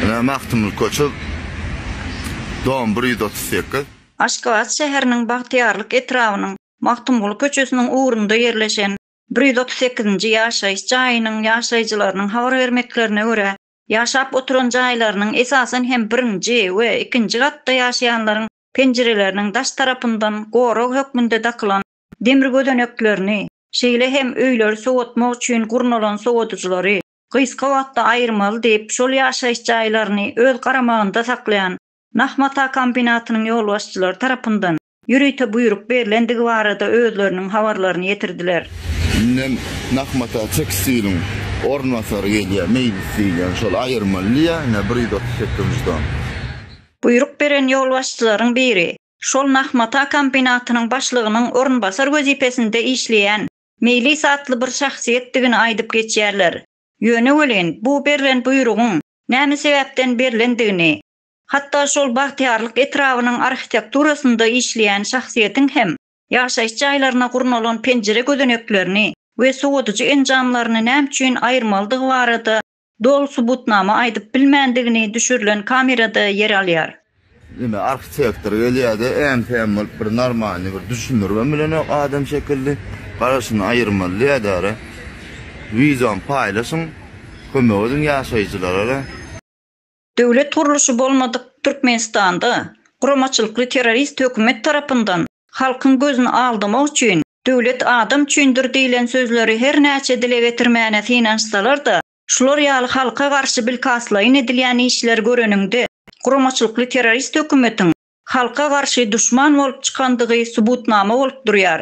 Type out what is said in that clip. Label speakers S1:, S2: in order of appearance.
S1: Ene Magtymguly köçe dom 138. Aşgabat
S2: şäheriniň Bagtyýarlyk etrabynyň Magtymguly köçesiniň ugrunda ýerleşen bir ýüz otuz sekizinji ýaşaýyş jaýynyň ýaşaýjylarynyň habar bermeklerine görä, ýaşap oturan jaýlarynyň esasan hem birinji we ikinji gatda ýaşaýanlaryň penjireleriniň daş tarapyndan gorag hökmünde dakylan demir gözeneklerini, şeýle hem öýleri sowatmak üçin gurnalan sowadyjylary gysga wagtda aýyrmaly diýip, şol ýaşaýyş jaýlaryny öz garamagynda saklaýan Nah mata kombinatynyň ýolbaşçylary tarapyndan ýörite buýruk berlendigi barada özleriniň habarlaryny ýetirdiler. Indem
S1: Nah mata tekstiliň orunbasary gelýär, meýlis diýilýän şol aýyrmaly diýýär, ine, bir ýüz otuz sekizinji tom.
S2: Buýruk beren ýolbaşçylaryň biri, Şol nah mata kombinatynyň başlygynyň orunbasar wezipesinde işleýän Meýlis atly bir şahsyýetdigini aýdyp geçýärler. Ýöne welin, bu berlen buýrugyň näme sebäpden berlendigini, hatda şol Bagtyýarlyk etrabynyň arhitekturasynda işleýän şahsyýetiň hem ýaşaýyş jaýlaryna gurnalan penjire gözeneklerini we sowadyjy enjamlaryny näme üçin aýyrmalydygy barada Doly subutnama aýdyp bilmändigini düşürilen kamerada ýer alýar. Ine
S1: arhitektor gelýärde äm-säm bolup bir normalny bir düşündirgem bilenok adam şekilli garaşyny aýyrmaly diýädara wideony paýlaşyň kömek ediň ýaşaýjylarara.
S2: Döwlet gurluşy bolmadyk Türkmenistanda guramaçylykly terrorist hökümet tarapyndan halkyň gözüni aldamak üçin Döwlet adam üçindir diýlen sözleri her näçe dile getirmäne synanyşsalar-da, şular ýaly halka garşy bilkastlaýyn edilýän işleri göreniňde guramaçylykly terrorist hökümetiň halka garşy duşman bolup çykandygy subutnama bolup durýar.